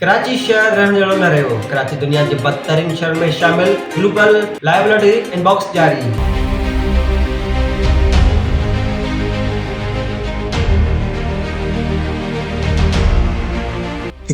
ڪراچي شهر رهڻ جهڙو نه رهيو، ڪراچي دنيا جي بدترين شهرن ۾ شامل، گلوبل لائبلري انباڪس جاري.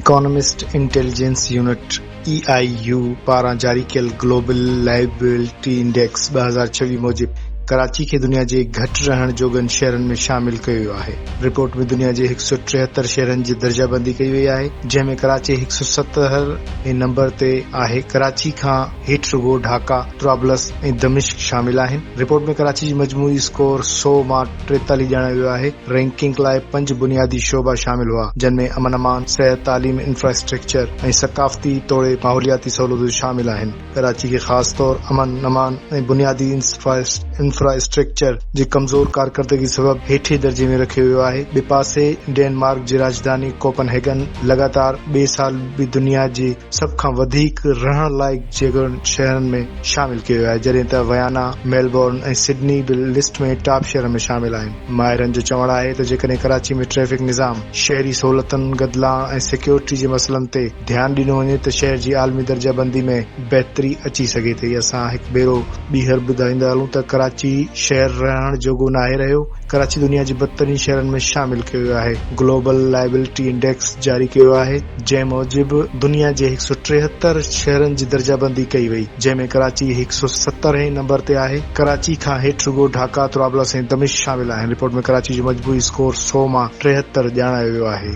اڪانومسٽ انٽيليجنس يونٽ، اي آء يو، پاران جاري ڪيل گلوبل لائبلري انڊيڪس ٻه هزار ڇويهه موجب ڪراچي کي دنيا جي گهٽ رهڻ جوڳن شهرن ۾ شامل ڪيو ويو آهي. رپورٽ ۾ دنيا جي هڪ سؤ ٽيهتر شهرن جي درجه بندي ڪئي وئي آهي جنهن ۾ ڪراچي هڪ سؤ ستهر هين نمبر تي آهي ڪراچي کان هيٺ رڳو ڍاڪا، طرابلس ۽ دمشق شامل آهن رپورٽ ۾ ڪراچي جي مجموعي اسڪور سؤ مان ٽيتاليهه ڄاڻايو ويو آهي رينڪنگ لاء پنج بنيادي شعبا شامل هئا جن ۾ امن امان، صحت، تعليم، انفراسٽرڪچر ۽ ثقافتي توڙي ماحولياتي سهولتون شامل آهن. ڪراچي کي خاص طور امن امان ۽ بنيادي انفراسٽرڪچر جي ڪمزور ڪارڪردگي سبب هيٺين درجي ۾ رکيو ويو آهي. ٻئي پاسي ڊينمارڪ جي راڄڌاني ڪوپن هيگن لڳاتار ٻئي سال به دنيا جي سڀ کان وڌيڪ رهڻ لائق جڳهن شهرن ۾ شامل ڪيو ويو آهي جڏهن ته ويانا، ميلبورن ۽ سڊني به لسٽ ۾ ٽاپ شهرن ۾ شامل آهن. ماهرن جو چوڻ آهي ته جيڪڏهن ڪراچي ۾ ٽريفڪ نظام، شهري سهولتن، گدلاڻ ۽ سيڪيورٽي جي مسئلن تي. ڌيان ڏنو وڃي ته شهر جي عالمي درجه بندي ۾ بهتري اچي سگهي ٿي. اسان هڪ ڀيرو ٻيهر ٻڌائيندا هلون ته ڪراچي شهر رهڻ جوڳو ناهي رهيو، ڪراچي دنيا جي بدترين شهرن ۾ شامل ڪيو ويو آهي، گلوبل لائبلٽي انڊيڪس جاري ڪيو ويو آهي، جنهن موجب دنيا جي هڪ سؤ ٽيهتر شهرن جي درجه بندي ڪئي وئي، جنهن ۾ ڪراچي هڪ سؤ ستر هين نمبر تي آهي، ڪراچي کان هيٺ رڳو ڍاڪا، طرابلس ۽ دمشق شامل آهن، رپورٽ ۾ ڪراچي جو مجموعي اسڪور سؤ مان ٽيهتر ڄاڻايو ويو آهي.